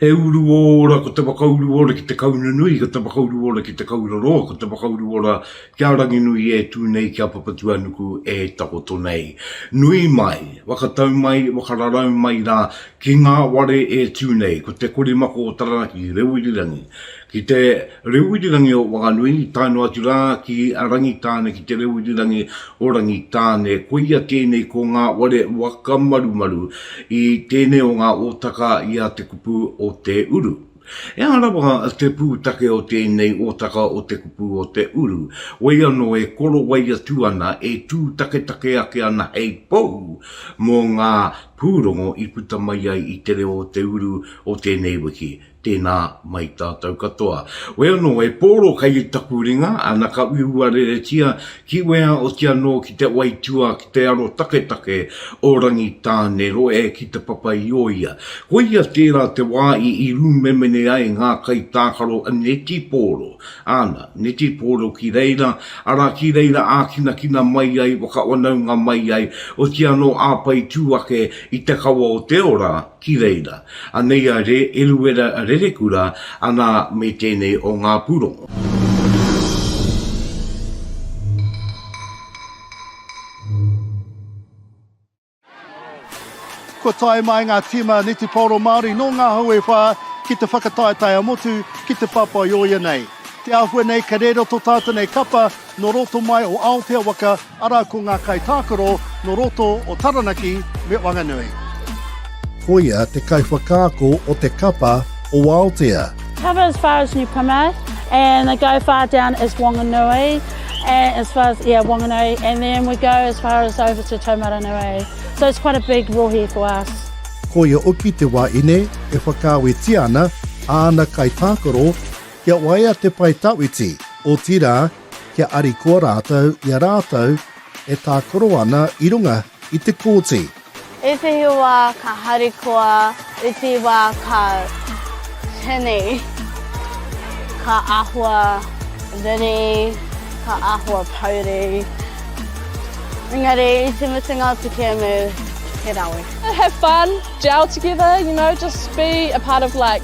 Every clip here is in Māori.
He uru ora ko te whakauru ora ki te kauna nui, ko te whakauru ora ki te kaura roa, ko te whakauru ora kia Ranginui e tu nei, kia Papatuanuku e takoto nei. Nui mai, whakatau mai, whakararau mai ra ki nga ware e tu nei, ko te korimako o Taranaki, Rewirirangi, Ki te reo irirangi o Whanganui, tae noa atu rā ki a Rangitāne ki te reo irirangi o Rangitāne. Koia tēnei ko ngā ware whakamarumaru i tēnei o ngā ōtaka i a Te Kupu o Te Uru. Ehara rawa te pūtake o tēnei ōtaka o Te Kupu o Te Uru, wai anō e korowai atu ana, e tūtaketake ake ana hei pou mō ngā pūrongo i puta mai ai i te reo o te uru o tēnei wiki. Tēnā mai tātou katoa. Wē anō e Pōro kei taku ringa, ana ka uiua reretia ki wea oti anō ki te waitua ki te aro taketake o Rangitāneroe ki te papa i o ia. Koia tērā te wā i i rūmemene ai ngā kaitākaro a Neti Pōro, ana, Neti Pōro ki reira, arā ki reira ākinakina mai ai, whakawanaunga mai ai, oti anō āpai tū ake i te kawa o te ora, ki reira. Anei a Re Eruera Rerekura ana me tenei o nga purongo. Kua tae mai ngā tīma neteporo Māori nō ngā hau e whā ki te whakataetae-a-motu ki te papa i o ia nei. Te āhua nei ka rēro tō tātou nei kapa, nō roto mai o Aotea waka, arā ko ngā kaitākaro nō roto o Taranaki me Wanganui. Koia te kaiwhakaako o te kapa o Aotea. Cover as far as New Plymouth and they go far down as Wanganui and as far as yeah Wanganui and then we go as far as over to Taumaranui so it's quite a big rohe for us. Koia oki te wā ine e whakaawetia ana āna kaitākaro Kia waia te pae tawhiti, otirā, kia arikoa rātou i a rātou e tākaro ana i runga i te kōti. Ētehi wā ka harikoa, ētehi wā ka tini, ka āhua riri, ka āhua pouri, engari i te mutunga o te kēmu, he rawe. Have fun, gel together, you know, just be a part of like.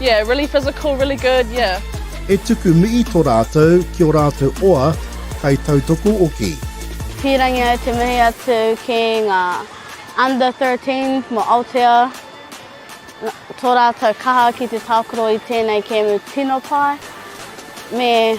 Yeah, really physical, really good, yeah. E tuku mihi to ratou ki o ratou oa kai tautoko oki. Pirangi ai te mihi atu ki nga under 13s mo Aotea, to ratou kaha ki te takoro i tenei kemu tino pai, me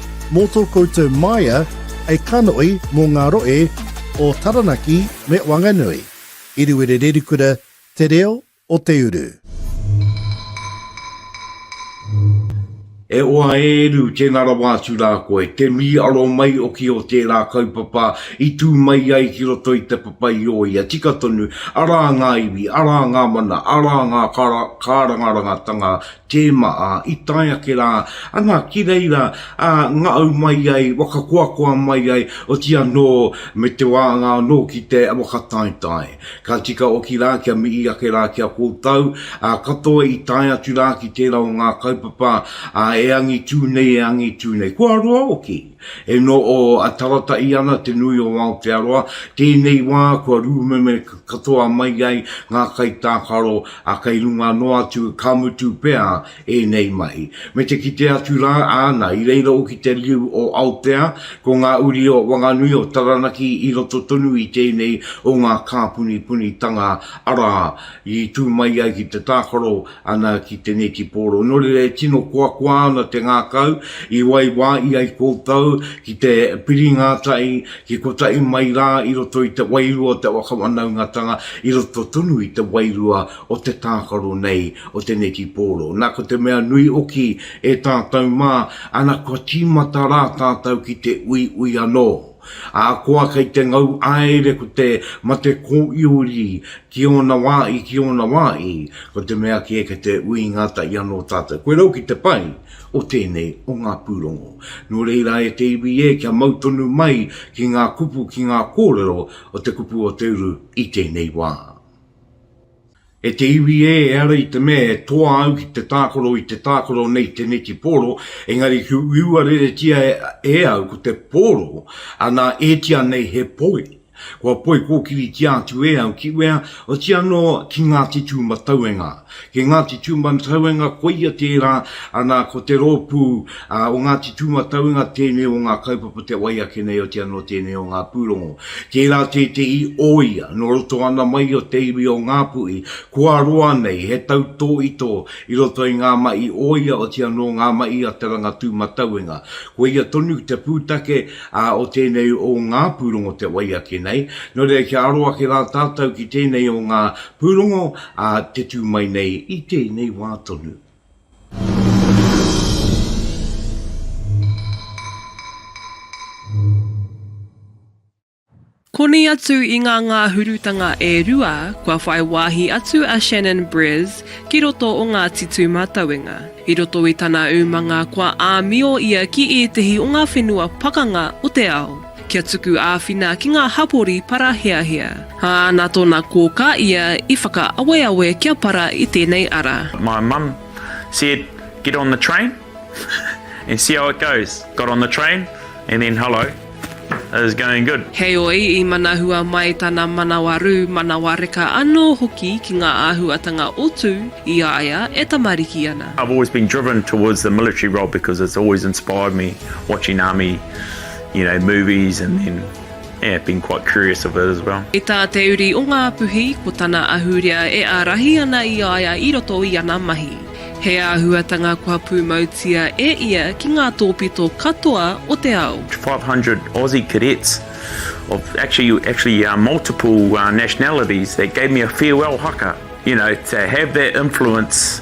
Mō tō koutou māia, hei kanoi mō ngā roe o Taranaki me Wanganui. Iriwere-Rerikura, Te Reo o Te Uru. E oa e eru, tena rawa atu ra koe, te miiaro mai oki o tera kaupapa i tu mai ai ki roto i te papa i o ia, tika tonu, ara nga iwi, ara nga mana, ara nga karangarangatanga Tēma, ā, i tae ake rā, ana ki reira, ā, ngaau mai ai, whakakoakoa mai ai, oti anō, me te wānga anō ki te whakataetae. Ka tika hoki rā kia mihi ake rā ki a koutou, ā, katoa i tae atu rā ki tērā o ngā kaupapa, ā, e angitū nei, e angitū nei. Kua roa hoki! E no o a tarataʻi ana te nui o Aotearoa, tēnei wā kua rūmeme katoa mai ai ngā kaitākaro a kei runga noa atu, ka mutu pea ēnei mahi. Me te kite atu rā, āna, i reira hoki te riu o Aotea, ko ngā uri o Wanganui, o Taranaki i roto tonu i tēnei o ngā kāpunipunitanga, arā, i tū mai ai ki te tākaro Ana ki tenei ki Poro. No reira e tino koakoa ana te ngakau i waiwa i ai koutou ki te piri nga tai, ki kotahi mai ra i roto i te wairua o te wakawanaungatanga, i roto tonu i te wairua o te takaro nei o tenei ki Poro. Na ko te mea nui oki e tatou ma, ana kua timata ra tatou ki te uiui ano. Ahakoa kei te ngau aere ko te mate kōiuri ki ōna wā i ki ōna wā i, ko te mea kē kei te ui ngātahi anō tātou. Koe rau ki te pai o tēnei o ngā pūrongo. Nō reira e te iwi e kia mau tonu mai ki ngā kupu ki ngā kōrero o te kupu o te uru i tēnei wā. E te iwi ē, e ara i te mea e toa au ki te tākaro i te tākaro nei teneti pōro, engari ki uiua reretia e au ko te pōro ana ētia nei he poi, kua poi kōkiritia atu e au ki wea, oti anō ki Ngāti Tūmatauenga. Ki Ngāti Tūmatauenga koia tērā, ana ko te rōpū Ā, o Ngāti Tūmatauenga tēnei o ngā kaupapa te wai ake nei otia nō tēnei o ngā pūrongo. Tērā tētehi o ia, nō roto ana mai o te iwi o Ngāpuhi, kua roa nei he tautōitō i roto i ngā mahi o ia otia nō ngā mahi a Te Rangatūmatauenga. Koia tonu te pūtake, ā, o tēnei o ngā pūrongo te wai ake nei. Nō reira kia aro ake rā tātou ki tēnei o ngā pūrongo, ā, te tū mai nei i tēnei wā tonu. Koni atu i ngā ngāhurutanga e rua kua whai wāhi atu a Shannon Brez ki roto o Ngāti Tūmatauenga. I roto i tana umanga kua āmio ia ki ētehi o ngā whenua pakanga o te ao. Kia tuku āwhina ki ngā hapori paraheahea. Ā, nā tōna kōkā ia i whakaaweawe kia para i tēnei ara. My mum said get on the train and see how it goes. Got on the train and then hello, it was going good. Heoi, i manahua mai tana manawa rū, manawa reka anō hoki ki ngā āhuatanga o Tū i a ia e tamariki ana. I've always been driven towards the military role because it's always inspired me watching army. you know, movies and then, yeah, been quite curious of it as well. I tā te uri o Ngāpuhi, ko tana ahurea e ārahi ana i a ia i roto i ana mahi. He āhuatanga kua pūmautia e ia ki ngā tōpito katoa o te ao. 500 Aussie cadets of actually, actually uh, multiple uh, nationalities that gave me a farewell haka, you know, to have that influence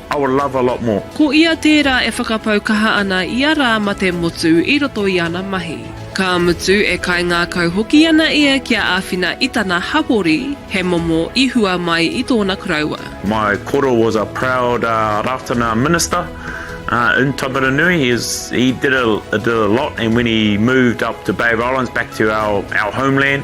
I would love a lot more. Ko ia tērā e whakapau kaha ana i a rā ma te motu i roto i ana mahi. Ka mutu e kaingākau hoki ana ia kia āwhina i tana hapori, he momo i hua mai i tōna koroua. My koro was a proud Ratana minister in Taumarunui, he was, he did a, did a lot and when he moved up to Bay of Islands back to our, our homeland,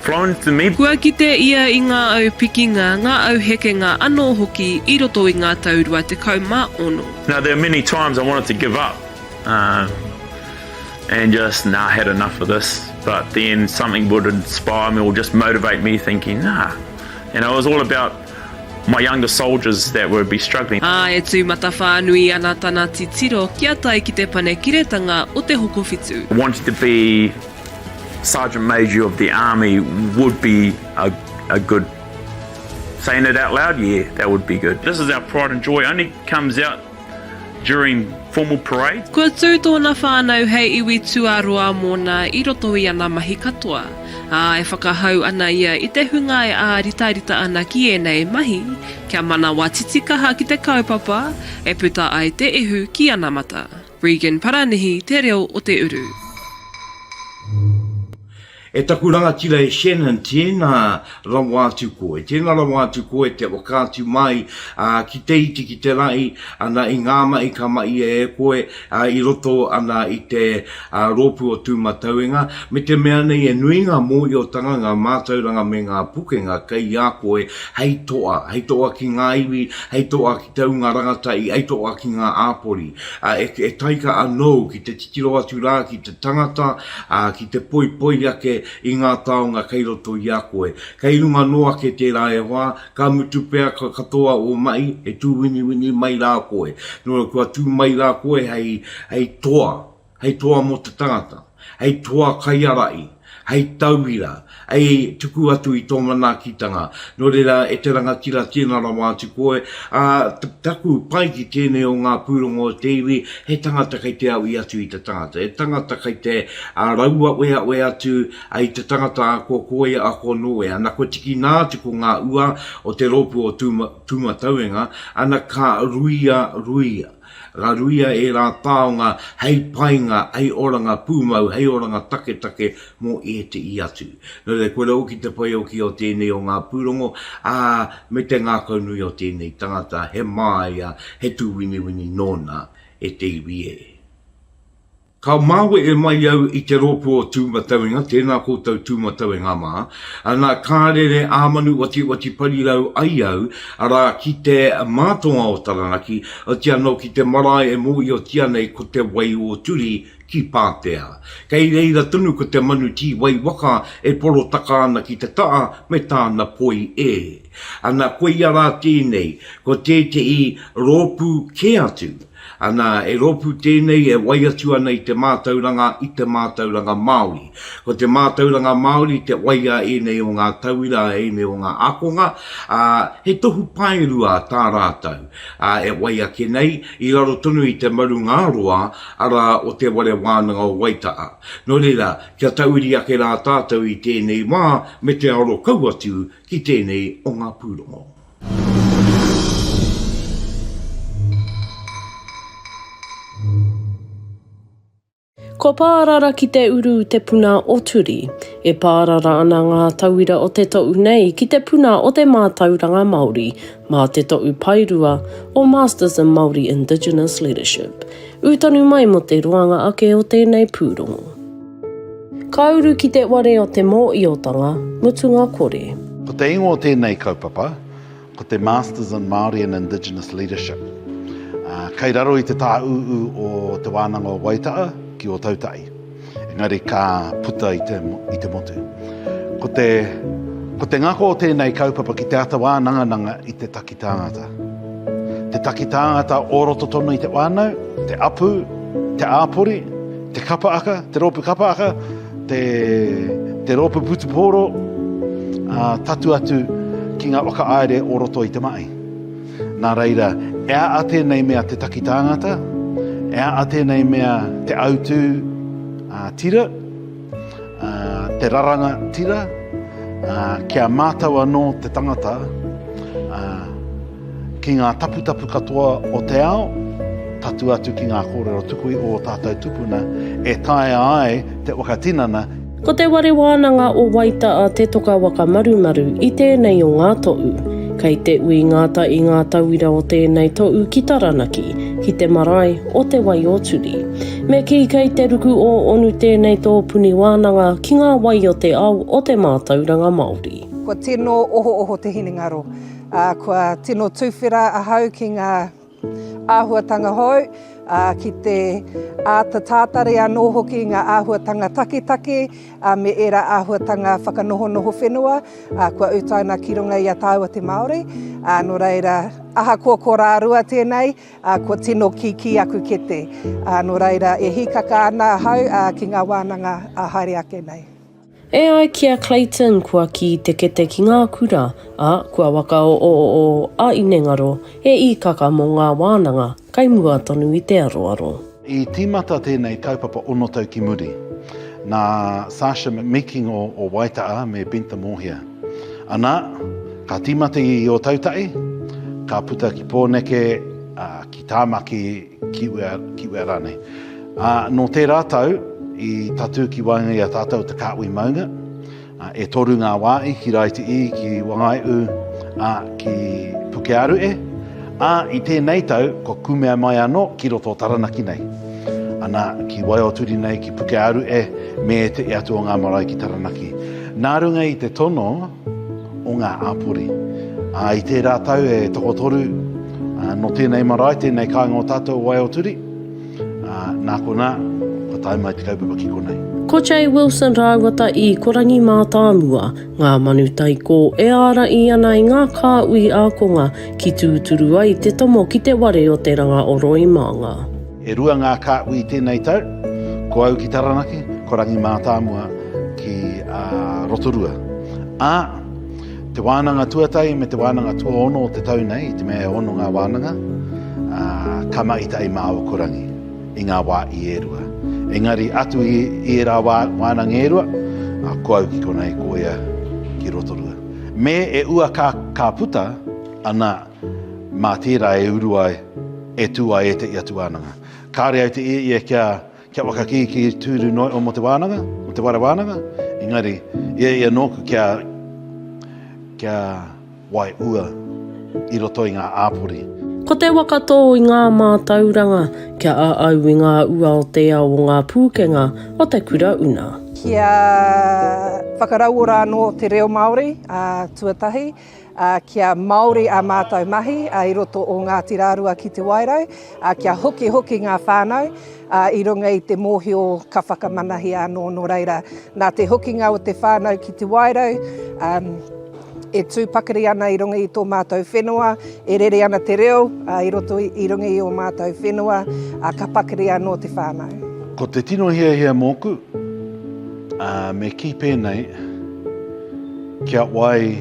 flown to me. Kua kite ia i ngā au pikinga, ngā au hekenga anō hoki i roto i ngā tau rua tekau mā ono. Now there are many times I wanted to give up and just nah had enough of this but then something would inspire me or just motivate me thinking nah you know it was all about my younger soldiers that would be struggling. Ā, e tū matawhānui ana tana titiro kia tae ki te Panekiretanga o Te Hokowhitu. Wanted to be Sergeant Major of the Army would be a, a good, saying it out loud, yeah, that would be good. This is our pride and joy, only comes out during formal parades. Kua tū tōna whānau hei iwi tuaroa mōna i roto i ana mahi katoa, ā, e whakahau ana ia i te hunga e āritarita ana ki ēnei mahi, kia manawa titikaha ki te kaupapa e puta ai te ihu ki anamata. Regan Paranihi te reo o te uru. E taku rangatira e Shannon, tēnā rawa atu koe, tēnā rawa atu koe te whakaatu mai ki te iti ki te rahi ana i ngā mahi ka mahia e koe i roto ana i te rōpū o Tūmatauenga, me te mea nei he nui ngā mōhiotanga, ngā mātauranga me ngā pukenga kei a koe hei toa, hei toa ki ngā iwi, hei toa ki te ūnga rangatahi, hei toa ki ngā āpori. ā, e taika anōu ki te titiro atu rā ki te tangata, ā, ki te poipoi ake i ngā taonga kei roto i a koe. Kei runga noa ake tērā e hoa, ka mutu pea ka katoa ō mahi, e tūwiniwini mai rā koe. Nō reira kua tū mai rā koe hei toa hei toa mō te tangata, hei toa kaiārahi, hei tauira, hei tuku atu i tō manaakitanga, nō reira e te rangatira tēnā rawa atu koe, ā, taku pai ki tēnei o ngā pūrongo o te iwi, he tangata kei te aui atu i te tangata, he tangata kei te rauaweawe atu i te tangata ko kōia a ko nōia, ana kua tiki nā atu ko ngā ua o te rōpū o Tūmatauenga, ana ka ruia, ruia. Raruia ērā taonga hei painga, hei oranga pūmau, hei oranga taketake mō ēteʻi atu. Nō reira, kua raua ki te pai oki o tēnei o ngā pūrongo, ā, me te ngākaunui o tēnei tangata, he māia, he tūwiniwini nōna e te iwi e. Ka mawe e mai au i te rōpū o Tūmatauenga, tēnā koutou Tūmatauenga mā, ana ka rere ā-manuwatiwati parirau ai au, arā, ki te mātonga o Taranaki, otirā anō ki te marae e mōhiotia nei ko Te Wai-o-Turi ki Pātea. Kei reira tonu ko te manu tīwai waka e porotaka ana ki te taha me tāna poi e. Ana koia rā tēnei, ko tētehi rōpū kē atu, Ana, e rōpū tēnei e wai atu ana i te mātauranga, i te mātauranga Māori. Ko te mātauranga Māori te wai a ēnei o ngā tauira, a ēnei o ngā ākonga, ā, he tohu paerua tā rātou, ā, e wai ake nei, i raro tonu i te marungaroa, arā, o Te Whare Wānanga o Waitaha. Nō reira, kia tauiri ake rā tātou i tēnei wā me te aro kau atu ki tēnei o ngā pūrongo. Kua pārara ki te uru te puna o Turi. E pārara ana ngā tauira o te toʻu nei ki te puna o te mātauranga Māori mā te toʻu paerua o Masters in Māori Indigenous Leadership. Ū tonu mai mō te roanga ake o tēnei pūrongo. Ka uru ki te ware o te mōiotanga mutunga kore. Ko te ingoa o tēnei kaupapa, ko te Masters in Māori and Indigenous Leadership. Kei raro i te tāūū o Te Wānanga o Waitaha ki Ōtautahi, engari ka puta i te motu. Ko te ngako o tēnei kaupapa ki te ata wānangananga i te take. Te tāngata. Te taki tāngata o roto tonu i te whānau, te apu, te āpori, te kapa aka, te rōpu kapa aka, te, te rōpu putupōro, a, tatu atu ki ngā whakaaere o roto i te mahi. Nā reira, e a a tēnei mea te taki tāngata, e a a tēnei mea te autū a, tira, Te raranga tira, ki a mātou anō te tangata, ki ngā taputapu katoa o te ao, tatu atu ki ngā kōrero tuku i ō tātou tupuna e taea ai te whakatinana. Ko Te Ware Wānanga o Waita a Te Toka Waka Marumaru i tēnei o ngā toʻu. Kei te ui ngāta i ngā tauira o tēnei toʻu ki Taranaki, ki te marae o Te Wai-o-Turi. Me kī kei te ruku o Onu tēnei tō puni wānanga ki ngā wai o te ao o te mātauranga Māori. Kua tino ohooho te hinengaro, ā, kua tino tuwhera ahau ki ngā āhuatanga hou, ā, ki te āta tātari anō hoki i ngā āhuatanga taketake, ā, me ērā āhuatanga whakanohonoho whenua, ā, kua utaina ki runga i a tāua te Māori, ā, nō reira, ahakoa ko rārua tēnei, Ā, kua tino kikī aku kete, ā, nō reira, e hīkaka ana ahau, ā, ki ngā wānanga, ā, haere ake nei. E ai ki a Clayton, kua kī te kete ki ngā kura, ā, kua wakaoooo a Inengaro, he īkaka mō ngā wānanga, kei mua tonu i te aroaro. I tīmata tēnei kaupapa ono tau ki muri, nā Sasha McMeeking o Waita'a me Bentha Mōhia. Anā, ka tīmata i Ōtautahi, ka puta ki Pōneke, ā, ki Tāmaki, ki Uea, ki Uea rānei. Ā, nō tērā tau, i tatū ki waenga i a tātou te kāhui maunga, E toru ngā wā i ki Raiti i, ki Wangai'u, a, ki Pukearu e, a, i tēnei tau kua kumea mai anō ki roto o Taranaki nei. Ana, ki Waioturi nei, ki Pukearu e, me te e atu o ngā marae ki Taranaki. Nā runga i te tono o ngā āpori. A, i tērā tau e tokotoru, a, nō tēnei marae, tēnei kāinga o tātou o Waioturi, Ā, nā konā, kua tae mai te kaupapa ki konei. Ko Jay Wilson rāua tā Ikorangi mātāmua ngā manu taikō e ārahi ana i ngā kāhui ākonga ki tūturu ai te tomo ki te ware o te ranga o Roimānga. E rua ngā kāhui tēnei tau, ko au ki Taranaki, ko Rangi mātāmua ki Rotorua. Ā. Te wānanga tuatahi me te wānanga tuaono o te tau nei, i te mea e ono ngā wānanga, ā, ka mahi tahi mā aua korangi i ngā wā i e rua. Engari atu i, i ērā wā, wānanga e rua, ā, ko au ki konei, ko ia ki Rotorua. Me e ua ka, ka puta, anā, mā tērā e uru ai, e tū ai ētehi atu wānanga. Kāore au te ia ia kia Kia whakakīkī tūru noa iho mō te wānanga, mō te wāre wānanga, engari, i a ia nōku kia, kia waiua i roto i ngā āpori. Ko te waka tō i ngā mātauranga, kia āau i ngā ua o te ao o ngā pūkenga o te kura una. Kia whakarauora anō te reo Māori, ā, tuatahi. kia Māori ā mātou mahi i roto o Ngāti Rārua ki Te Wairau, kia hokihoki ngā whānau i runga i te mōhio ka whakamanahia anō nō reira. Nā te hokinga o te whānau ki Te Wairau, e tū pakari ana i runga i tō mātou whenua, e rere ana te reo i roto i runga i ō mātou whenua, ka pakari anō te whānau. Ko te tino hiahia mōku, Ā, me kī pēnei, Kia wai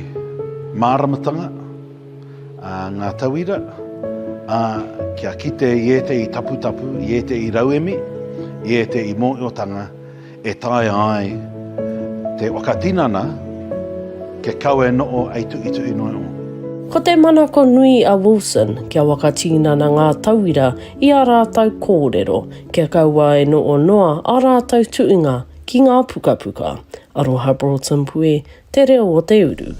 māramatanga, ā, ngā tauira, ā, kia kite i ētehi taputapu, i ētehi rauemi, i ētehi mōhiotanga e taea ai te whakatinana kia kawe noho hei tuhituhi noa iho. Ko te manako nui a Wilson kia whakatinana ngā tauira i ā rātou kōrero, Kia kaua e noo noa a ratou tuunga ki nga pukapuka. Aroha Broughton Pue, Te Reo o te Uru.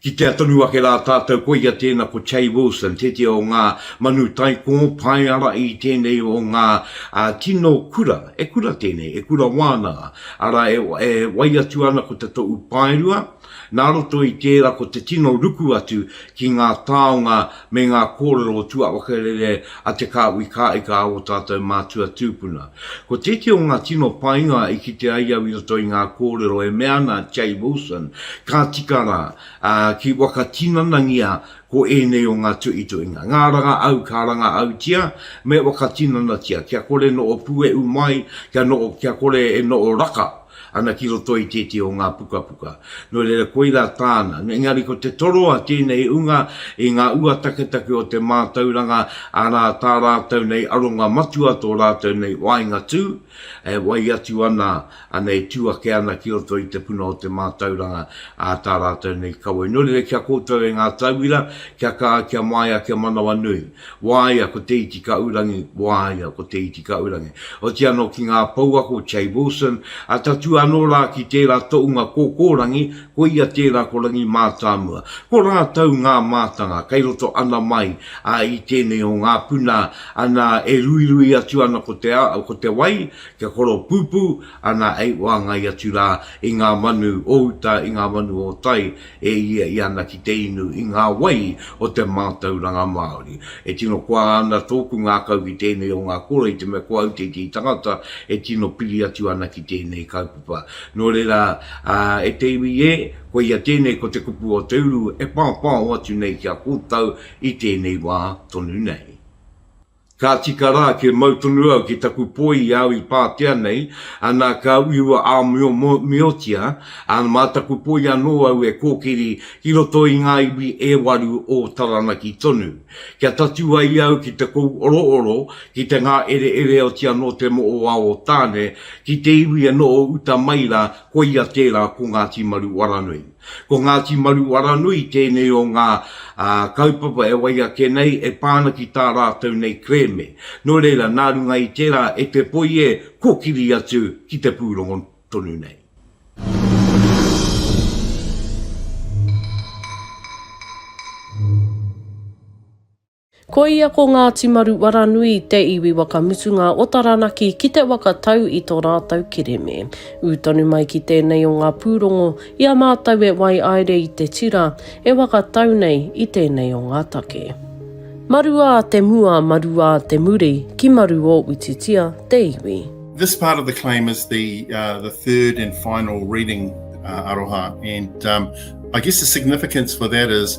Kitea tonu ake rā tātou koia tēna ko Che Wilson, tētehi o ngā manu taikō pae ara i tēnei o ngā tino kura, e kura tēnei, e kura wānanga, arā e wai atu ana ko te toʻu paerua, Nā roto i tērā ko te tino ruku atu ki ngā taonga me ngā kōrero o tuawaka rere a Te Kāhui Kāika a ō tātou mātua tūpuna. Ko tētehi o ngā tino painga i kite ai au i roto i ngā kōrero e mea ana a Jay Wilson, Ka tika rā, ā, ki whakatinanangia ko ēnei o ngā tuituinga. Ngā ranga au ka ranga autia, me whakatinanatia, kia kore noʻo pueʻu mai, kia noʻo, kia kore e noʻo raka. Ana ki roto i tētehi o ngā pukapuka. Nō reira, koirā tāna. Engari ko te toroa tēnei unga i ngā ua taketake o te mātauranga, arā, tā rātou nei aronga matua tō rātou nei waenga tū, e wai atu ana, ana e tū ake ana ki roto i te puna o te mātauranga, ā, tā rātou nei kawe. Nō reira, ki a koutou e ngā tauira, kia kaha, kia māia, kia manawanui. Waea ko Te Itikaurangi, waea ko Te Itikaurangi. Oti ano ki nga pouako Che Wilson, a tatū ano ra ki tera toʻunga kōkōrangi, ko ia tera ko Rangimātāmua. Ko ratou nga mātanga kei roto ana mai a i tenei o nga puna ana e ruirui atu ana ko te a, ko te wai, kia koropūpū ana ei oangai atu ra i nga manu o uta, i nga manu o tai, e iai ana ki te inu i ngā wai o te mātauranga Māori. E tino koa ana tōku ngākau ki tēnei o ngā kura i te mea ko au tētehi tangata e tino piri atu ana ki tēnei kaupapa. Nō reira, e te iwi ē, koia tēnei ko te kupu o te uru e pāpāo atu nei ki a kōtau i tēnei wā tonu nei. Ka tika rā kia mau tonu au ki taku poi i au i pātea nei, anā ka uiua āmiomiotia, ā, mā taku poi anō au e kōkiri ki roto i ngā iwi e waru o Taranaki tonu. Kia tatū ai au ki te kou orooro, ki te ngāereere oti anō te moʻowā o Tāne, ki te iwi e noho uta mai rā, koia tērā ko Ngāti Maru Waranui. Ko Ngāti Maruaranui tēnei o ngā kaupapa e wai ake nei e pā ana ki tā rātou nei kerēme. Nō reira, nā runga i tērā e te poi e kōkiri atu ki te pūrongo tonu nei. Ko ia ko Ngāti Maru Waranui te iwi waka mutunga o Taranaki ki te waka tau i to rātou kereme. Ū tonu mai ki tēnei o ngā pūrongo i a mātou e waiaere i te tira e waka tau nei i tēnei o ngā take. Maruā te mua, maruā te muri, ki maru o Utitia te iwi. This part of the claim is the the third and final reading aroha and um I guess the significance for that is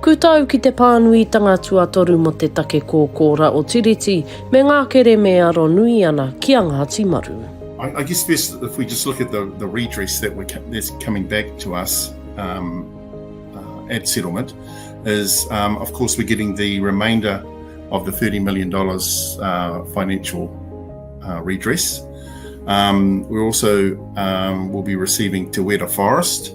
Kūtau ki te pānuitanga tuatoru mō te take kōkōra o Tiriti me ngā kereme e aro nui ana ki a Ngāti Maru. I guess first if we just look at the the redress that we're that's coming back to us um, uh, at settlement is um, of course we're getting the remainder of the thirty million dollars uh, financial uh, redress. Um, we're also um, will be receiving Te Wera Forest,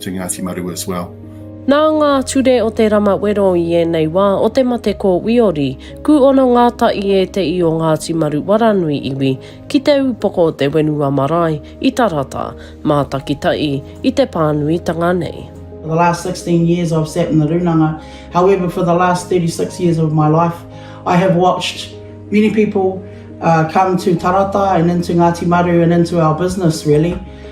to Ngāti Maru as well. Nā ngā ture o te rama wero i ēnei wā o te mate ko Wiori, kūono ngāta i ēteī o Ngāti Maru waranui iwi ki te ūpoko o te whenua marae i Tarata, mātakitaī i te pānuitanga nei. For the last 16 years I've sat in the rūnanga, however for the last 36 years of my life I have watched many people come to Tarata and into Ngāti Maru and into our business really.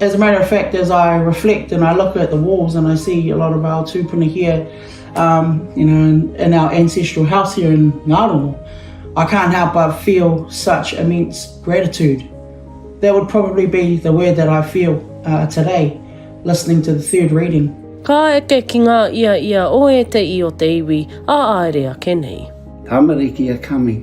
As a matter of fact, as I reflect and I look at the walls and I see a lot of our tūpuna here, um, you know, in our ancestral house here in Ngāromo, I can't help but feel such immense gratitude. That would probably be the word that I feel uh, today, listening to the third reading. Ka eke ki ngā ia ia o ēteʻi o te iwi a āere ake nei. Tamariki are coming.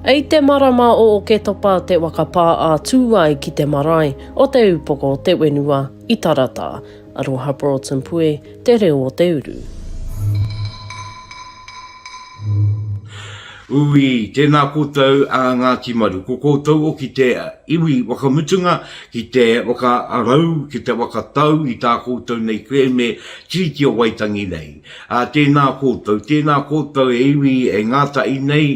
I te marama o Oketopa te waka pā a Tūai ki te marae o te upoko o te wenua i Tarata. Aroha Broughton Pue, Te Reo o te Uru. Ui, tēnā koutou a Ngāti Maru, ko koutou o ki te iwi whakamutunga, ki te whakarau, ki te whakatau i tā koutou nei kerēme Tiriti o Waitangi nei. Ā, tēnā koutou, tēnā koutou e iwi, e ngātahi nei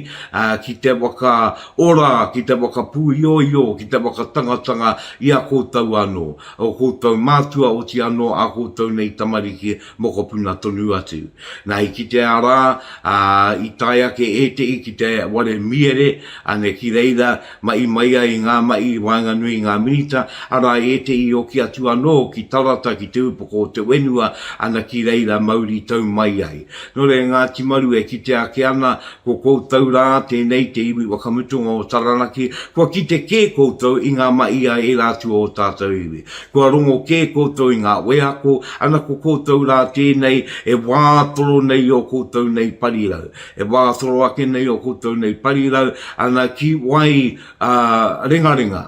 ki te whakaora, ki te whakapūioio, ki te whakatangatanga i a koutou anō, ō koutou mātua, oti anō ā koutou nei tamariki, mokopuna tonu atu. Nā, i kitea rā, ā, i tae ake ētehi ki te ware miere, ane, ki reira, Mahi mai ai ngā mahi i waenganui i ngā Minita, arā ētehi hoki atu anō ki Tarata, ki te Upoko o te Whenua, ana ki reira mauritau mai ai. Nō reira Ngāti Maru e kite ake ana, ko koutou rā, tēnei te iwi whakamutunga o Taranaki, kua kite kē koutou i ngā mahi a ērā atu o ō tātou iwi. Kua rongo kē koutou i ngā wheako, ana ko koutou rā tēnei e wā toro nei i ō koutou nei parirau. E wā toro ake nei o koutou nei parirau ana ki wai rengarenga,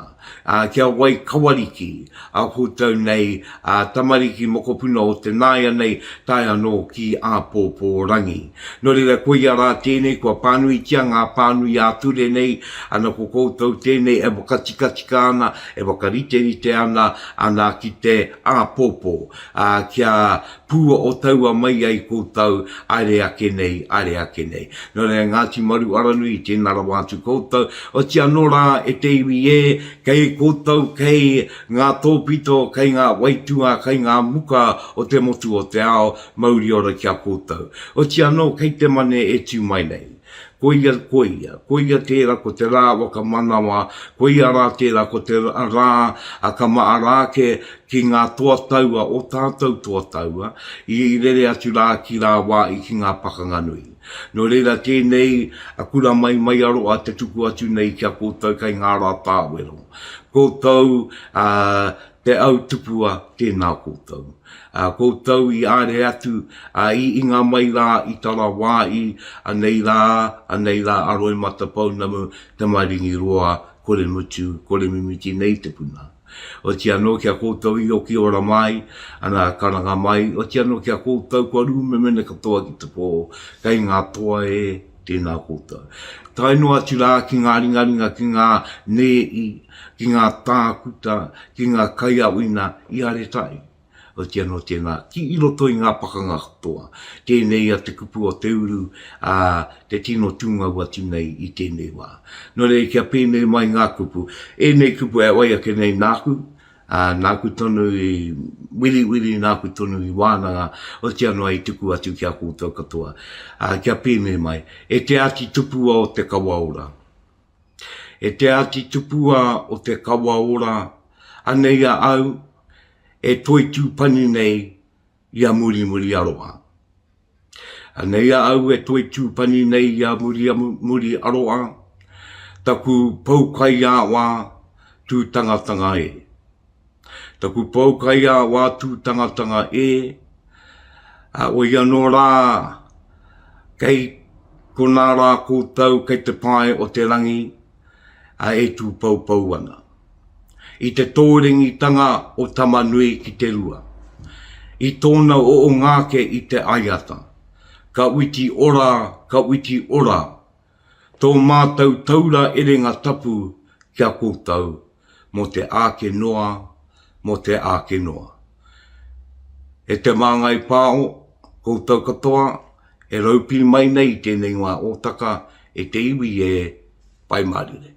kia wai kawariki a koutou nei tamariki mokopuna o te nāianei tae anō ki āpōpō rangi. Nō reira koia rā tēnei kua pānuitia ngā pānui ā-ture nei, ana ko koutou tēnei e whakatikatika ana, e whakariterite ana, ana ki te āpōpō kia pua o taua mai ai koutou, aere ake nei, aere ake nei. No reira Ngati Maru Aranui i tena rawa atu koutou, oti ano ra e te iwi e, kei koutou kei nga topito, kei nga waitua, kei nga muka o te motu o te ao, mauri ora ki a koutou. Oti ano kei te mane e tu mai nei. Koia, koia, koia tērā ko te rā wakamanawa, koia rā tērā ko te rā a ka maaraake ki ngā toa taua o tātou toa taua i rere atu rā ki rā wā i ki ngā pakanga nui. Nō reira tēnei a Kura Maimaiaroa te tuku atu nei ki a koutou kei ngā rā tāwero. Koutou, ā, Te au tupua, tēnā koutou. Ā, koutou i āre atu, ā, i inga mai rā i tana wā i, anei rā, anei rā a Roimata Pounamu, Tamaringiroa, kore mutu, kore mimiti nei te puna. Oti anō ki a koutou i oki ora mai, ana, karanga mai, oti anō ki a koutou kua rūmemene katoa ki te pō, kei ngā toa e, Tēnā koutou. Tae noa atu rā ki ngā ringaringa, ki ngā nēi, ki ngā tākuta, ki ngā kaiāwina i Aretai. Oti anō tēnā, ki i roto i ngā pakanga katoa. Tēnei ia te kupu o te uru, ā, te tino tūngau atu nei i tēnei wā. Nō reira kia pēnei mai ngā kupu. Ēnei kupu e wai ake nei nāku, Ā, nāku tonu i wiriwiri, nāku tonu i wānanga, otiia noa i tuku atu ki a koutou katoa, ā, kia pēnei mai, E te Āti Tupua o te kawa ora, e te Āti Tupua o te kawa ora, anei a au e toitū pani nei, i a Murimuri Aroa. Anei a au e toi tūpani nei i a Murimuri Aroa, taku pou kaiāwā tūtangatanga e. Taku pou kaiāwā tūtangatanga e, ā, woi anō rā, kei konā rā koutou kei te pae o te rangi, a e tūpoupou ana. I te tōrengitanga o Tamanui ki te rua, i tōna oongāke i te aiata, ka witi ora, ka witi ora tō mātou taura erenga tapu kia koutou, mō te āke noa, mō te āke noa. E te Māngai Pāho, koutou katoa e raupī mai nei i tēnei wā ōtaka e te iwi e Pai Mārire.